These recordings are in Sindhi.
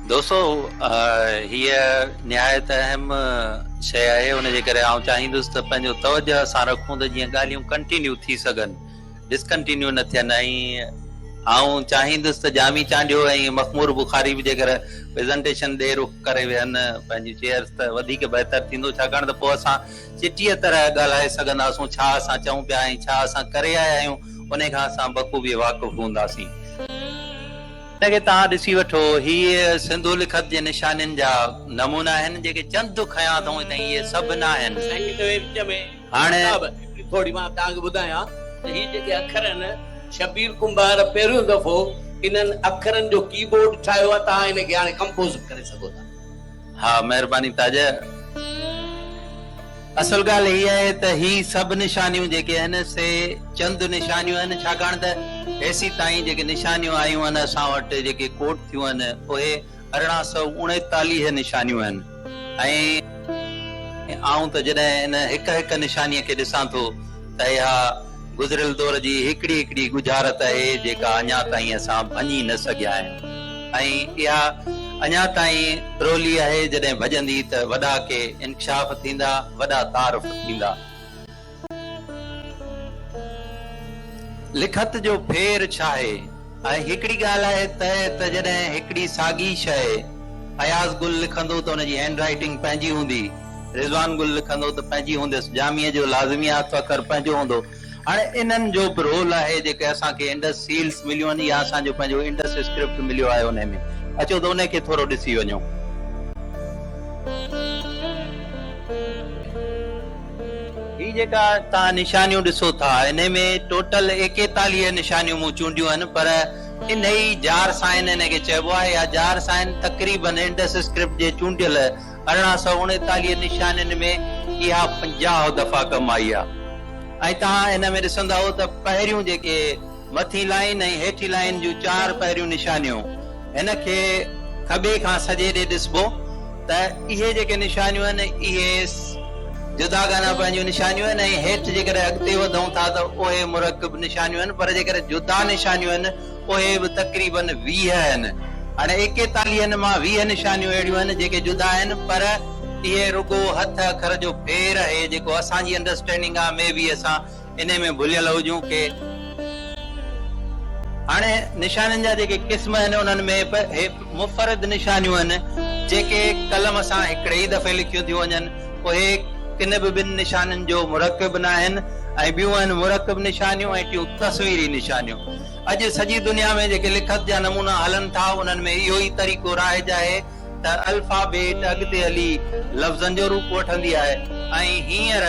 دوستو هيء نهايت اهم شيء آهي ان جي ڪري آئون چاهيندس ته پنهنجو توجه سان رکون ته جيئن ڳالهيون ڪنٽينيو ٿي سگهن ڊسڪنٽينيو نه ٿين ۽ آئون چاهيندس ته ڄامي چانڊيو ۽ مخمور بخاري به جيڪر پريزنٽيشن ڏي رخ ڪري ويهن پنهنجيون چيئرس ته وڌيڪ بهتر ٿيندو ڇاڪاڻ ته پوء اسان چٽيء طرح ڳالهائي سگهنداسون، ڇا اسان چئون پيا ۽ ڇا اسان ڪري آيا آهيون، انهي کان اسان بخوبيء واقف هونداسين. هن کي توهان ڏسي وٺو. هي سنڌو لکت جي نشانين جا نمونا آهن، جيڪي چند کنيا اٿئون تائين اهي سڀ نه آهن. سائين توهي وچ ۾ هاڻي. صاحب هڪڙي ٿوري مان توهان کي ٻڌايان ته هي جيڪي اکر آهن، شبير ڪنڀار پهريون دفعو انهن اکرن جو ڪي بورڊ ٺاهيو آهي، توهان ان کي هاڻي ڪمپوز به ڪري سگهو ٿا. ها مهرباني تاجه اصل ڳالهه هي آهي ته هي سڀ نشانيون جيڪي آهن سي چند نشانيون آهن ڇاڪاڻ ته هيسي تائين جيڪي نشانيون آيون آهن اسان وٽ جيڪي ڪوٽ ٿيون آهن اهي ارڙهن سؤ اڻيتاليهه نشانيون آهن ۽ آئون ته جڏهن ان هڪ هڪ نشانيء کي ڏسان ٿو ته اها گذريل دور جي هڪڙي هڪڙي ڳجهارت اهي جيڪا اڃا تائين اسان ڀڃي نه سگهيا آهيون ۽ اها اڃا تائين پرولي آهي جڏهن ڀڄندي ته وڏا ڪي انڪشاف ٿيندا وڏا تعارف ٿيندا. لکت جو ڦير ڇاهي؟ ۽ هڪڙي ڳالهه آهي ته ته جڏهن هڪڙي ساڳي شيء اياز گل لکندو ته ان جي هينڊ رائيٽنگ پنهنجي هوندي، رضوان گل لکندو ته پنهنجي هونديس، جاميء جو لازميات ته اکر پنهنجو هوندو. هاڻي انهن جو به رول آهي جيڪي اسان کي انڊس سيلز مليون آهن يا اسان جو پنهنجو انڊس اسڪرپٽ مليو آهي انهي ۾. اچو ته انهي کي ٿورو ڏسي وڃون. هي جيڪا توهان نشانيون ڏسو ٿا انهي ۾ ٽوٽل ايڪيتاليهه نشانيون مون چونڊيون آهن پر انهي ئي جار سائن انهي کي چئبو آهي يا جار سائن تقريباً انڊس اسڪرپٽ جي چونڊيل ارڙهن سؤ اڻيتاليهه نشانين ۾ اها پنجاهه دفعا ڪم آئي آهي ۽ توهان ان ۾ ڏسندؤ ته پهريون جيڪي مٿين لائين ۽ هيٺين لائين جون چار پهريون نشانيون هن کي کٻي کان سڄي ڏي ڏسبو ته اهي جيڪي نشانيون آهن اهي جداگانه پنهنجون نشانيون آهن ۽ هيٺ جيڪڏهن اڳتي وڌون ٿا ته اهي مرڪب نشانيون آهن پر جيڪڏهن جدا نشانيون آهن اهي به تقريباً ويهه آهن هاڻي ايڪيتاليهن مان ويهه نشانيون اهڙيون آهن جيڪي جدا آهن پر اهي رڳو هٿ اکر جو ڦير اهي جيڪو اسان جي انڊرسٽينڊنگ آهي مي بي اسان انهي ۾ ڀليل هجون ڪي. هاڻي نشانين جا جيڪي قسم آهن انهن ۾ به هي مفرد نشانيون آهن جيڪي قلم سان هڪڙي ئي دفعي لکيون ٿيون وڃن اهي ڪن به ٻن نشانين جو مرڪب ناهن ۽ ٻيون آهن مرڪب نشانيون ۽ ٽيون تصويري نشانيون اڄ سڄي دنيا ۾ جيڪي لکت جا نمونا هلن ٿا انهن ۾ اهو ئي طريقو رائج آهي ته الفابيٽ اڳتي هلي لفظن جو روپ وٺندي آهي ۽ هينئر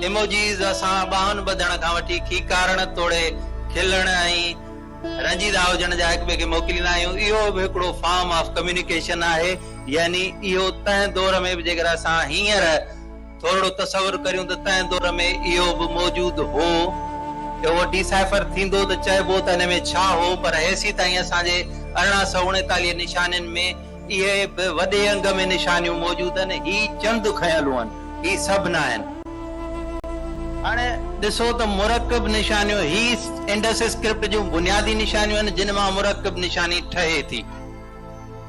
ايموجيز اسان ٻانهن ٻڌڻ کان وٺي کيڪارڻ توڙي کلڻ ۽ رنجيدا هجڻ جا هڪٻئي کي موڪليندا آهيون اهو به هڪڙو فارم آف ڪميونيڪيشن آهي يعني اهو تنهن دور ۾ به جيڪر اسان هينئر ٿورڙو تصور ڪريون ته تنهن دور ۾ اهو به موجود هو. اهو ڊيسائفر ٿيندو ته چئبو ته ان ۾ ڇا هو پر هيسي تائين اسان جي ارڙهن سؤ اڻيتاليهه نشانين ۾ اهي به وڏي انگ ۾ نشانيون موجود آهن. هي چند کنيلون آهن. هي سڀ ناهن. هاڻي ڏسو ته مرڪب نشانيون هي انڊس اسڪرپٽ جون بنيادي نشانيون آهن جن مان مرڪب نشاني ٺهي ٿي.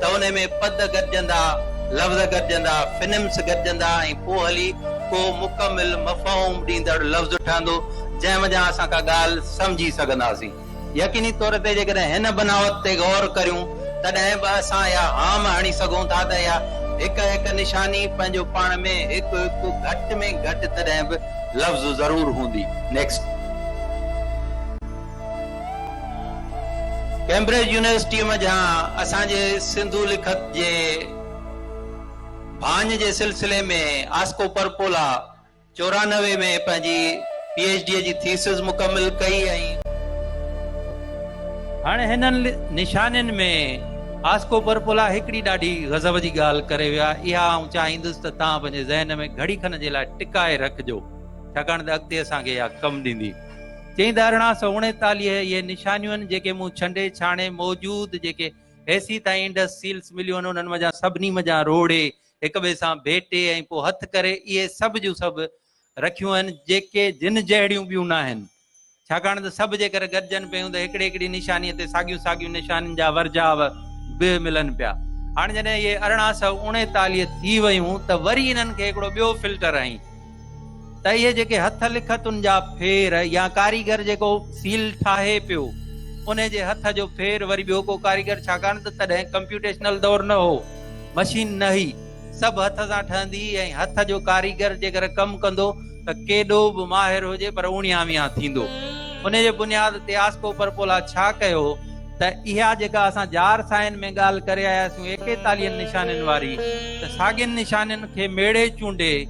ته انهي ۾ پد گڏجندا، لفظ گڏجندا، فنمس گڏجندا ۽ پوء هلي ڪو مڪمل مفهوم ڏيندڙ لفظ ٺهندو، جنهن منجهان اسان ڪا ڳالهه سمجهي سگهنداسين. يقيني طور تي جيڪڏهن هن بناوت تي غور ڪريون، تڏهن به اسان اها هام هڻي سگهون ٿا ته اها هڪ هڪ نشاني پنهنجو پاڻ ۾ هڪ هڪ گهٽ ۾ گهٽ تڏهن به لفظ ضرور هوندي. Next. ڪيمبرج يونيورسٽيء منجهان اسان جي سنڌو لکت جي ڀاڃ جي سلسلي ۾ آسڪو پرپولا چورانوي ۾ پنهنجي پي ايڇ ڊيء جي ٿيسز مڪمل ڪئي ۽. هاڻي هنن نشانين ۾ آسڪو پرپولا هڪڙي ڏاڍي غضب جي ڳالهه ڪري ويو آهي، اها آئون چاهيندس ته توهان پنهنجي ذهن ۾ گهڙي کن جي لاء ٽڪائي رکجو، ڇاڪاڻ ته اڳتي اسان کي اها ڪم ڏيندي. چئين ته ارڙهان سؤ اڻيتاليهه اهي نشانيون جيڪي مون ڇنڊي ڇاڻي موجود جيڪي هيسي تائين انڊس سيلس مليون آهن انهن منجهان سڀني منجهان روڙي هڪ ٻئي سان ڀيٽي ۽ پوء هٿ ڪري اهي سڀ جون سڀ رکيون آهن جيڪي جن جهڙيون ٻيون ناهن ڇاڪاڻ ته سڀ جيڪر گڏجن پيون ته هڪڙي هڪڙي نشاني تي ساڳيون ساڳيون نشانين جا ورجاء به ملن پيا هاڻ جڏهن اهي ارڙهان سؤ اڻيتاليهه ٿي ويون ته وري انهن کي هڪڙو ٻيو فلٽر ۽ ته اهي جيڪي هٿ لکتن جا ڦير يا ڪاريگر جيڪو سيل ٺاهي پيو ان جي هٿ جو ڦير وري ٻيو ڪو ڪاريگر ڇاڪاڻ ته تڏهن ڪمپيوٽيشنل دور نه هو مشين نه هئي سڀ هٿ سان ٺهندي هئي ۽ هٿ جو ڪاريگر جيڪر ڪم ڪندو ته ڪيڏو به ماهر هجي پر اوڻيان ويان ٿيندو ان جي بنياد تي آسڪو پرپولا ڇا ڪيو ته اها جيڪا اسان جار سائن ۾ ڳالهه ڪري آياسون ايڪيتاليهن نشانين واري ته ساڳين نشانين کي ميڙي چونڊي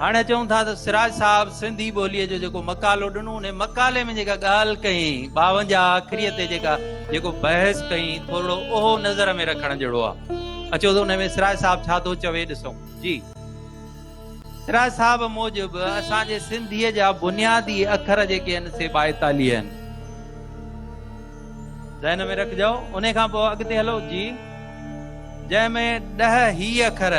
هاڻي چئون ٿا ته سراج صاحب سنڌي ٻوليء جو جيڪو مقالو ڏنو انهي مقالي ۾ جيڪا ڳالهه ڪئين ٻاونجاهه اکري تي جيڪا جيڪو بحث ڪئين ٿورڙو اهو نظر ۾ رکڻ جهڙو آ اچو ته انهي ۾ سراج صاحب ڇا ٿو چوي ڏسون جي سراج صاحب موجب اسان جي سنڌيء جا بنيادي اکر جيڪي آهن سي ٻائيتاليهه آهن. ذهن ۾ رکجو انهي کان پوء اڳتي هلو جي جنهن ۾ ڏهه هي اکر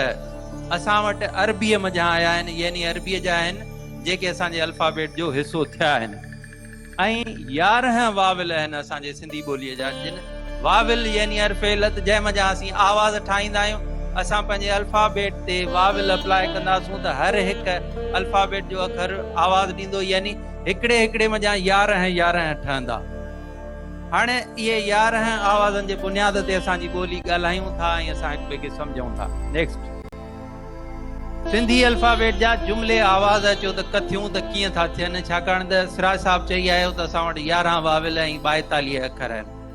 اسان وٽ عربي منجهان آيا آهن يعني عربي جا آهن جيڪي اسان جي الفابيٽ جو حصو ٿيا آهن ۽ يارهن واول آهن اسان جي سنڌي ٻولي جا جن واول يعني حرف علت جنهن منجهان اسين آواز ٺاهيندا آهيون اسان پنهنجي الفابيٽ تي واول اپلاء ڪنداسون ته هر هڪ الفابيٽ جو اکر آواز ڏيندو يعني هڪڙي هڪڙي منجهان يارهن يارهن ٺهندا. هاڻي اهي يارهن آوازن جي بنياد تي اسان جي ٻولي ڳالهايون ٿا ۽ اسان هڪ ٻئي کي سمجهون ٿا. Next. سنڌي الفابيٽ جا جملي آواز اچو ته ڪٿيون ته ڪيئن ٿا ٿين ڇاڪاڻ ته سراج صاحب چئي آيو ته اسان وٽ يارهن واويل ۽ ٻائيتاليهه اکر آهن.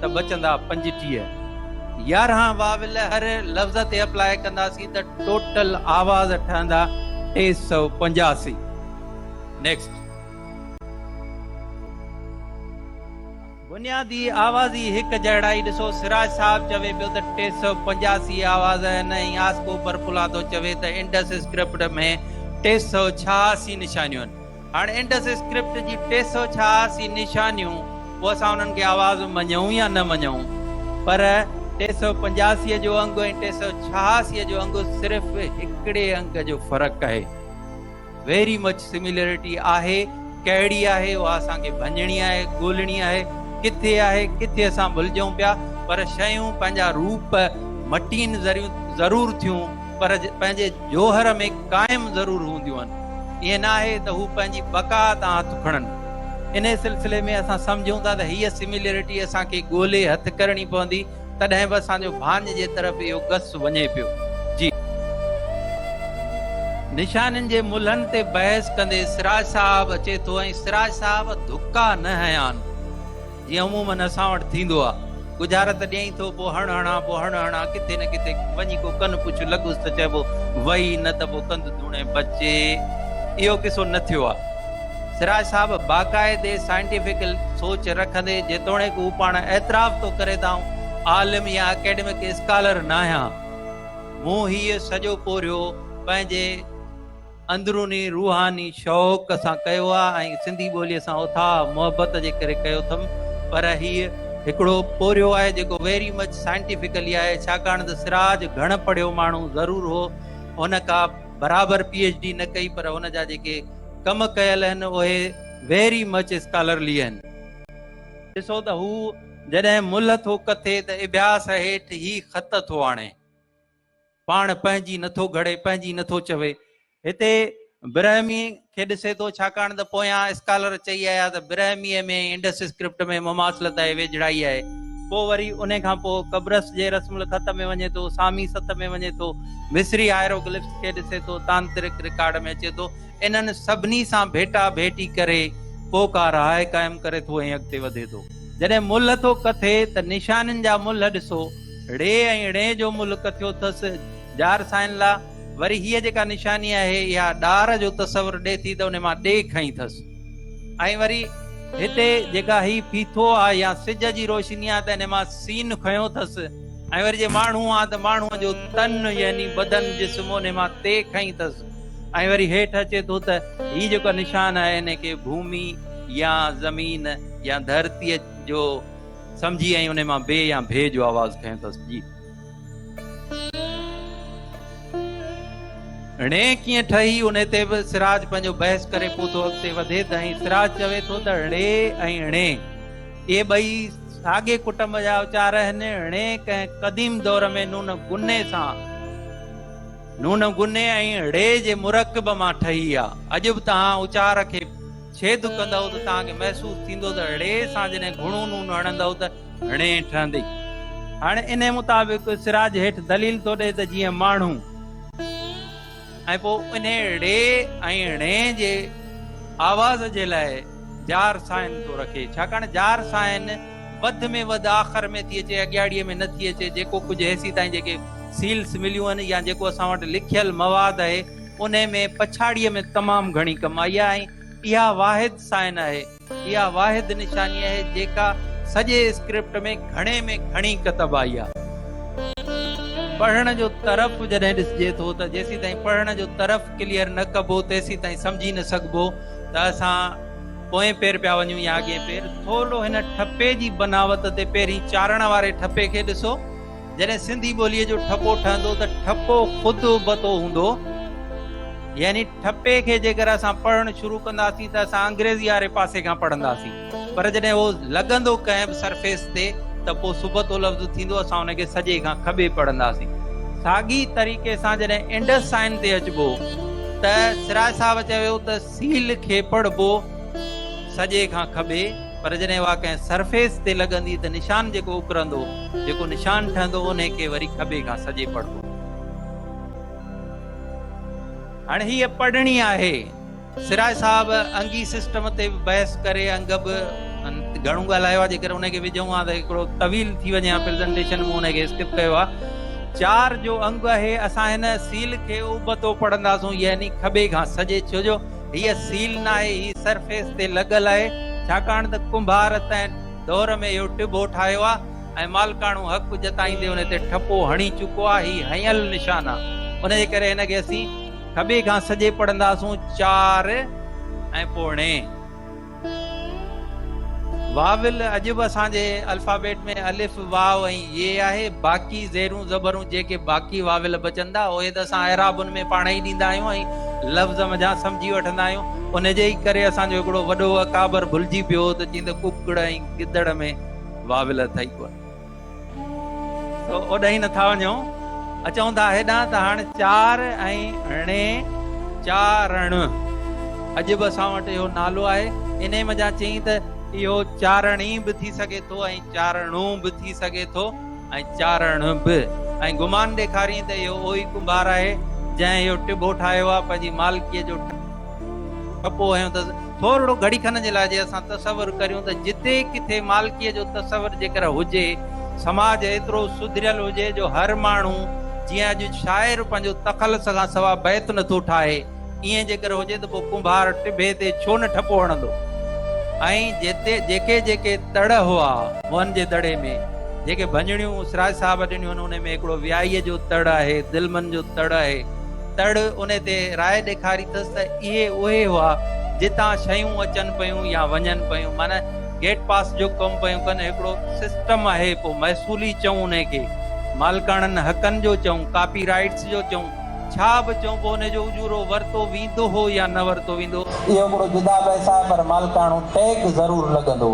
ته بچندا پنجٽيهه. يارهن واول هر لفظ تي اپلاء ڪنداسين ته ٽوٽل آواز ٺهندا ٽي سؤ پنجاسي. Next. بنيادي آوازي هڪ جهڙائي ڏسو سراج صاحب چوي پيو ته ٽي سؤ پنجاسي آواز آهن ۽ آسڪو برپلاتو چوي ته انڊس اسڪرپٽ ۾ ٽي سؤ ڇهاسي نشانيون آهن. هاڻ انڊس اسڪرپٽ جي ٽي سؤ ڇهاسي نشانيون پوء اسان انهن کي آواز م مڃون يا نه مڃون پر ٽي سؤ پنجاسي جو انگ ۽ ٽي سؤ ڇهاسي جو انگ صرف هڪڙي انگ جو فرق آهي ويري مچ سميلريٽي آهي ڪهڙي آهي اها اسان کي ڀڃڻي آهي ڳولهڻي آهي ڪٿي آهي ڪٿي اسان ڀلجون پيا پر شيون پنهنجا روپ مٽين ذريون ضرور ٿيون پر پنهنجي جوهر ۾ قائم ضرور هونديون آهن. ائين نه آهي ته هو پنهنجي بقا تان هٿ کڻن. انهيء سلسلي ۾ اسان سمجهون ٿا ته هيء سميليرٽي اسان کي ڳولي هٿ ڪرڻي پوندي، تڏهن به اسان جو ڀاڃ جي طرف اهو گس وڃي پيو. جي. نشانين جي ملهن تي بحث ڪندي سراج صاحب اچي ٿو ۽ سراج صاحب ڌڪا نه هنيا آهن. جيئن عموماً اسان وٽ ٿيندو آ. ڳجهارت ڏيئين ٿو، پوء هڻ هڻان، پوء هڻ هڻان، ڪٿي نه ڪٿي وڃي ڪو ڪن پڇ لڳس ته چئبو وئي، نه ته پوء ڪنڌ ڌوڻي بچ. اهو قصو نه ٿيو آ. سراج صاحب باقاعدي سائنٽيفڪل سوچ رکندي، جيتوڻيڪ هو پاڻ اعتراف ٿو ڪري ته آئون عالم يا اڪيڊمڪ اسڪالر ناهيان، مون هيء سڄو پورهيو پنهنجي اندروني روحاني شوق سان ڪيو آ ۽ سنڌي ٻوليء سان اٿاهه محبت جي ڪري ڪيو اٿم پر هيء هڪڙو پورهيو آهي جيڪو ويري مچ سائنٽيفڪلي آهي ڇاڪاڻ ته سراج گهڻ پڙهيو ماڻهو ضرور هو هن ڪا برابر پي ايڇ ڊي نه ڪئي پر هن جا جيڪي ڪم ڪيل اهن اهي ويري مچ اسڪالرلي اهن ڏسو ته هو جڏهن ملهه ٿو ڪٿي ته اڀياس هيٺ هي خط ٿو آڻي. پاڻ پنهنجي نٿو گهڙي، پنهنجي نٿو چوي. هتي برهمي کي ڏسي ٿو، ڇاڪاڻ ته پويان اسڪالر چئي آيا ته برهميء ۾ انڊس اسڪرپٽ ۾ مماثلت آهي، ويجهڙائي آهي. پوء وري انهي کان پوء قبرص جي رسم الخط ۾ وڃي ٿو، سامي ست ۾ وڃي ٿو، مصري هائيروگلفس کي ڏسي ٿو، تانترڪ رڪارڊ ۾ اچي ٿو، انهن سڀني سان ڀيٽا ڀيٽي ڪري پوء ڪا راء قائم ڪري ٿو ۽ اڳتي وڌي ٿو. جڏهن ملهه ٿو ڪٿي ته نشانين جا ملهه ڏسو. ڙي ۽ ڙين جو ملڪ ٿيو ٿس ڄار سائين لا وري هيء جيڪا نشاني آهي اها ڏار جو تصور ڏي ٿي ته ان مان ڙي کنئي ٿس ۽ وري هتي جيڪا هي ڦيٿو آ يا سج جي روشني آ ته ان مان سين کنيو ٿس ۽ وري جي ماڻهو آ ته ماڻهو جو تن يعني بدن جسم ان مان تي کنئي ٿس ۽ وري هيٺ اچي ٿو ته هي جيڪا نشان آهي ان کي ڀومي يا زمين يا ڌرتي جو سمجهي ۽ انهي مان بي يا ڀي جو آواز کنيو ٿس. جي. ڙي ڪيئن ٺهي انهي تي به سراج پنهنجو بحث ڪري پوء ٿو اڳتي وڌي ته ۽ سراج چوي ٿو ته ڙي ۽ ڙي اهي ٻئي ساڳي ڪٽنب جا اچار آهن ڙي ڪنهن قديم دور ۾ نون گني سان نون گني ۽ ڙي جي مرڪب مان ٺهي آ اڄ به تهان اچار کي ڇيد ڪندؤ ته توهان کي محسوس ٿيندو ته ڙي سان جڏهن گهڻو نون هڻندؤ ته ڙي ٺهندي. هاڻي انهي مطابق سراج هيٺ دليل ٿو ڏئي ته جيئن ماڻهو ۽ پوء انهي ڙي ۽ ڙي جي آواز جي لاء جار سائن ٿو رکي ڇاڪاڻ جار سائن وڌ ۾ وڌ آخر ۾ ٿي اچي اڳياڙي ۾ نه ٿي اچي جيڪو ڪجهه هيسي تائين جيڪي سيلس مليون آهن يا جيڪو اسان وٽ لکيل مواد آهي انهي ۾ پڇاڙيء ۾ تمام گهڻي ڪم آئي آهي ۽ اها واحد سائن آهي، اها واحد نشاني آهي جيڪا سڄي اسڪرپٽ ۾ گهڻي ۾ گهڻي ڪتب آئي آهي. پڙهڻ جو طرف جڏهن ڏسجي ٿو ته جيسيتائين پڙهڻ جو طرف ڪليئر نه ڪبو تيسيتائين سمجهي نه سگهبو ته اسان پوئين پير پيا وڃون يا اڳئين پير. ٿورڙو هن ٺپي جي بناوت تي پهرين چارڻ واري ٺپي کي ڏسو. جڏهن سنڌي ٻوليء جو ٺپو ٺهندو ته ٺپو خود ابتو هوندو، يعني ٺپي کي جيڪر اسان پڙهڻ شروع ڪنداسين ته اسان انگريزي واري پاسي کان پڙهنداسين، پر جڏهن اهو لڳندو ڪنهن به سرفيس تي ته پوء سبتو لفظ ٿيندو، اسان ان کي سڄي کان کٻي پڙهنداسين. ساڳي طريقي سان جڏهن انڊس سائن تي اچبو ته سراج صاحب چيو ويو ته سيل کي پڙهبو سڄي کان کٻي. پر جڏهن اها ڪنهن سرفيس تي لڳندي ته نشان جيڪو اڪرندو، جيڪو نشان ٺهندو انهي کي وري کٻي کان سڄي پڙهبو. هاڻي هيء پڙهڻي آهي. سراج صاحب انگي سسٽم تي به بحث ڪري انگ به گهڻو ڳالهايو آهي، جيڪر انهي کي وجهون ها ته هڪڙو طويل ٿي وڃي ها پريزنٽيشن مون انهي کي اسڪپ ڪيو آهي. چار جو انگ اهي اسان هن سيل کي ابتو پڙهنداسون يعني کٻي کان سڄي ڇو جو هيء سيل ناهي، هي سرفيس تي لڳل آهي، ڇاڪاڻ ته ڪنڀار تنهن دؤر ۾ اهو ٽڀو ٺاهيو آهي ۽ مالڪاڻو حق جتائيندي ان تي ٺپو هڻي چڪو آهي، هي هنيل نشان آهي، ان جي ڪري هن کي اسين کٻي کان سڄي پڙهنداسون چار ۽ پوڻي. واول اڄ به اسان جي الفابيٽ ۾ الف، واء ۽ يي آهي، باقي زيرون زبرون جيڪي باقي واول بچن ٿا اهي ته اسان اعرابن ۾ پاڻ ئي ڏيندا آهيون ۽ لفظ منجهان سمجهي وٺندا آهيون، ان جي ئي ڪري اسان جو هڪڙو وڏو اڪابر ڀلجي پيو هو ته چيائين ته ڪڪڙ ۽ گدڙ ۾ واول اٿئي ڪونه. اوڏانهن نه ٿا وڃون، اچون ٿا هيڏانهن ته هاڻ چار ۽ ڻي چارڻ اڄ به اسان وٽ اهو نالو آهي. انهيء منجهان چيائين ته اهو چارڻي به ٿي سگهي ٿو ۽ چارڻو به ٿي سگهي ٿو ۽ چارڻ به ۽ گمان ڏيکاريائين ته اهو اهوئي ڪنڀار آهي جنهن اهو ٽٻو ٺاهيو آهي پنهنجي مالڪيء جو کپو هيون ته ٿورڙو گهڙي کن جي لاء جي اسان تصور ڪريون ته جتي ڪٿي مالڪيء جو تصور جيڪر هجي، سماج ايترو سڌريل هجي جو هر ماڻهو جيئن اڄ شاعر پنهنجو تخلص کان سوا بيت نه ٿو ٺاهي، ايئن جيڪر هجي ته پوء ڪنڀار ٽڀي تي ڇو نه ٺپو هڻندو؟ ۽ جتي جيڪي جيڪي تڙ هئا، موهن جي دڙي ۾ جيڪي ڀڃڻيون سراج صاحب ڏنيون آهن، انهي ۾ هڪڙو ويائيء جو تڙ آهي، دلمن جو تڙ آهي، تڙ ان تي راء ڏيکاري ٿس ته اهي اهي هئا جتان شيون اچن پيون يا وڃن پيون معنيٰ گيٽ پاس جو ڪم پيون ڪن هڪڙو سسٽم آهي پوء محصول ئي چئون ان کي مالڪاڻن حقن جو چئون ڪاپي رائيٽس جو چئون ڇا به چئون پوء ان جو اجورو ورتو ويندو هو يا نه ورتو ويندو اهو هڪڙو جدا بحث آهي پر مالڪاڻو ٽيگ ضرور لڳندو.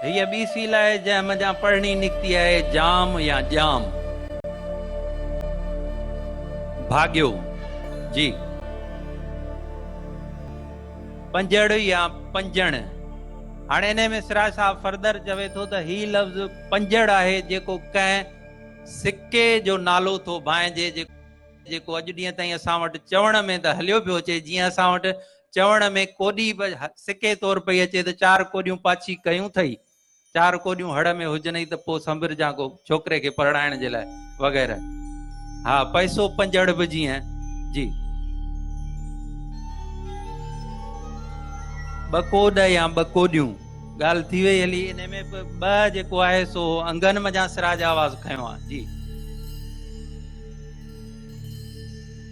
هيء ٻي سيل آهي جنهن منجهان پڙهڻي نڪتي آهي جام يا ڄام. ڀاڳيو، جي. پنجڙ يا پنجڻ. هاڻي انهيء ۾ سراج صاحب فردر چوي ٿو ته هي لفظ پنجڙ آهي جيڪو ڪنهن سڪي جو نالو ٿو ڀانئجي جيڪو اڄ ڏينهن تائين اسان وٽ چوڻ ۾ ته هليو پيو اچي جيئن اسان وٽ چوڻ ۾ ڪوڏي به سڪي طور پئي اچي ته چار ڪوڏيون پاڇي ڪيون ٿئي، چار ڪوڏيون هڙ ۾ هجنئي ته پوء سنبرجان ڪو ڇوڪري کي پرڻائڻ جي لاء وغيره. ها پئسو پنجڙ به جيئن جي ٻه ڪوڏ يا ٻه ڪوڏيون ڳالهه ٿي وئي هلي ان ۾ به ٻه جيڪو آهي سو انگن منجهان سراج آواز کنيو آهي جي.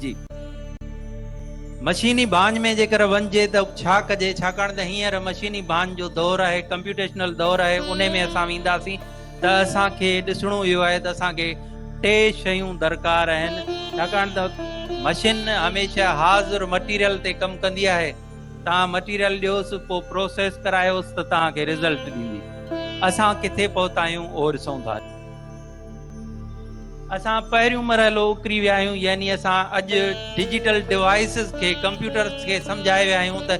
جي مشيني ڀاڃ ۾ جيڪر وڃجي ته ڇا ڪجي ڇاڪاڻ ته هينئر مشيني ڀاڃ جو دور آهي ڪمپيوٽيشنل دور آهي انهي ۾ اسان وينداسين ته اسان کي ڏسڻو اهو آهي ته اسان کي ٽي شيون درڪار آهن ڇاڪاڻ ته مشين هميشه حاضر مٽيريل تي ڪم ڪندي آهي تان مٽيريل ڏيوس پوء پروسيس ڪرايوس ته تان کي رزلٽ ڏيندي اسان ڪٿي پهتا آهيون اهو ڏسون ٿا. اسان پهريون مرحلو اڪري ويا آهيون يعني اسان اڄ ڊجيٽل ڊوائسز کي ڪمپيوٽرز کي سمجهائي ويا آهيون ته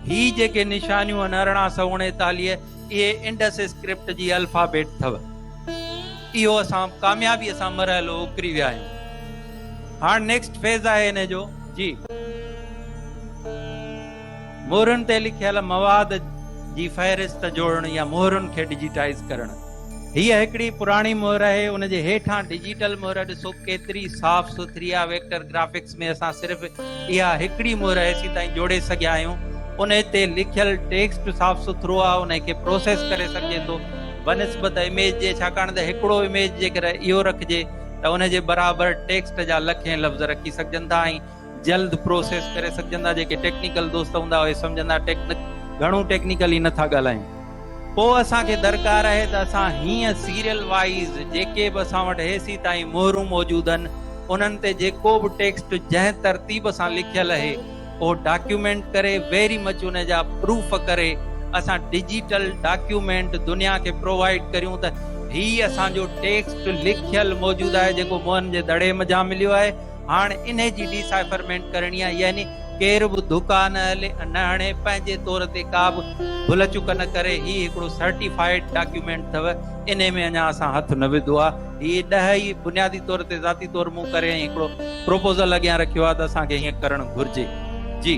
هي جيڪي نشانيون آهن ارڙهن سؤ اڻيتاليهه اهي انڊس اسڪرپٽ جي الفابيٽ اٿو اهو اسان ڪاميابي سان مرحلو اڪري ويا آهيون هاڻ نيڪسٽ فيز آهي ان جو جي مهرن تي لکيل مواد جي فهرست جوڙڻ يا مهرن کي ڊجيٽائيز ڪرڻ هيء هڪڙي پراڻي مهر آهي ان جي هيٺان ڊجيٽل مهر ڏسو ڪيتري صاف سٿري آهي ويڪٽر گرافڪس ۾ اسان صرف اها هڪڙي مهر هيسي تائين جوڙي سگهيا آهيون ان تي لکيل ٽيڪسٽ صاف سٿرو آهي ان کي پروسيس ڪري سگهجي ٿو بنسبت اميج جي ڇاڪاڻ ته هڪڙو اميج جيڪڏهن اهو رکجي ته ان جي برابر ٽيڪسٽ جا لکين لفظ رکي سگهجن ٿا ۽ جلد پروسيس ڪري سگهجندا جيڪي ٽيڪنيڪل دوست هوندا اهي سمجهندا ٽيڪنڪ گهڻو ٽيڪنيڪل ئي نٿا ڳالهايون پوء اسان کي درڪار اهي ته اسان هيئن سيريل وائيز جيڪي به اسان وٽ هيسي تائين مهرون موجود هن انهن تي جيڪو به ٽيڪسٽ جنهن ترتيب سان لکيل اهي اهو ڊاڪيومينٽ ڪري ويري مچ ان جا پروف ڪري اسان ڊجيٽل ڊاڪيومينٽ دنيا کي پرووائيڊ ڪريون ته هي اسان جو ٽيڪسٽ لکيل موجود آهي جيڪو موهن جي دڙي مجهان مليو آهي هاڻ انهي جي ڊيسائفرمينٽ ڪرڻي آهي يعني ڪير به ڌڪا نه هلي ۽ نه هڻي پنهنجي طور تي ڪا به ڀل چڪ نه ڪري هي هڪڙو سرٽيفائيڊ ڊاڪيومينٽ اٿو انهي ۾ اڃا اسان هٿ نه وڌو آهي هي ڏهه ئي بنيادي طور تي ذاتي طور مون ڪري ۽ هڪڙو پروپوزل اڳيان رکيو آهي ته اسان کي هيئن ڪرڻ گهرجي جي.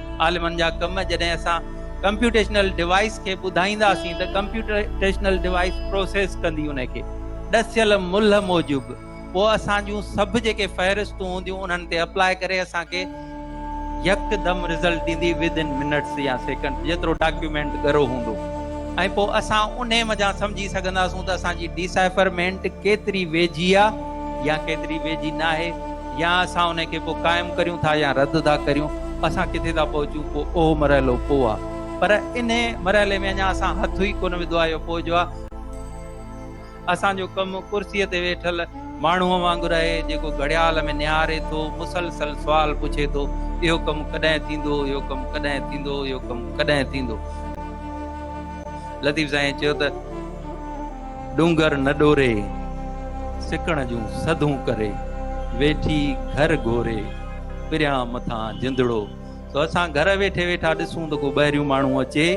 عالمن جا ڪم جڏهن اسان ڪمپيوٽيشنل ڊوائيس کي ٻڌائينداسين ته ڪمپيوٽيشنل ڊوائيس پروسيس ڪندي ان کي ڏسيل ملهه موجب پوء اسان جون سڀ جيڪي فهرستون هونديون انهن تي اپلاء ڪري اسان کي يڪدم رزلٽ ڏيندي Within Minutes يا Seconds جيترو ڊاڪيومينٽ ڳرو هوندو ۽ پوء اسان انهي منجهان سمجهي سگهنداسون ته اسان جي ڊيسائفرمينٽ ڪيتري ويجهي آ يا ڪيتري ويجهي ناهي. يا اسان انهي کي پوء قائم ڪريون ٿا يا رد ٿا ڪريون، اسان ڪٿي ٿا پهچون پوء اهو مرحلو پوء آ. پر انهي مرحلي ۾ اڃا اسان هٿ ئي ڪونه وڌو آ يو پوء جو آ. اسان جو ڪم ڪرسيء تي ويٺل ماڻهوء وانگر آهي، جيڪو گهڙيال ۾ نهاري ٿو، مسلسل سوال پڇي ٿو، اهو ڪم ڪڏهن ٿيندو، اهو ڪم ڪڏهن ٿيندو، اهو ڪم ڪڏهن ٿيندو. لطيف سائينء چيو ته. ڏونگر نه ڏوري، سڪڻ جون سڌون ڪري، ويٺي گهر گهوري، پريان مٿان جندڙو. سو اسان گهر ويٺي ويٺا ڏسون ته ڪو ٻاهريون ماڻهو اچي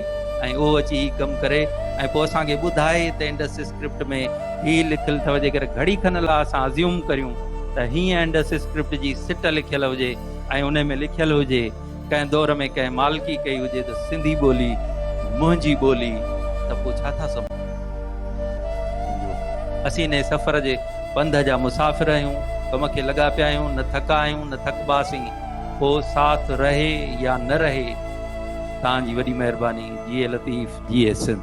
۽ اهو اچي هي ڪم ڪري ۽ پوء اسان کي ٻڌائي ته انڊس اسڪرپٽ ۾ هي لکيل اٿو جيڪر گهڙي کن لا اسان ازيوم ڪريون ته هيئن انڊس اسڪرپٽ جي سٽ لکيل هجي ۽ انهي ۾ لکيل هجي ڪنهن دور ۾ ڪنهن مالڪي ڪئي هجي ته سنڌي ٻولي منهنجي ٻولي ته پوء ڇا ٿا سمجهو؟ اسين انهيء سفر جي پنڌ جا مسافر آهيون، ڪم کي لڳا پيا آهيون، نه ٿڪا آهيون نه ٿڪباسين، پوء ساٿ رهي يا نه رهي، توهان جي وڏي مهرباني، جيئي لطيف، جيئي سنڌ.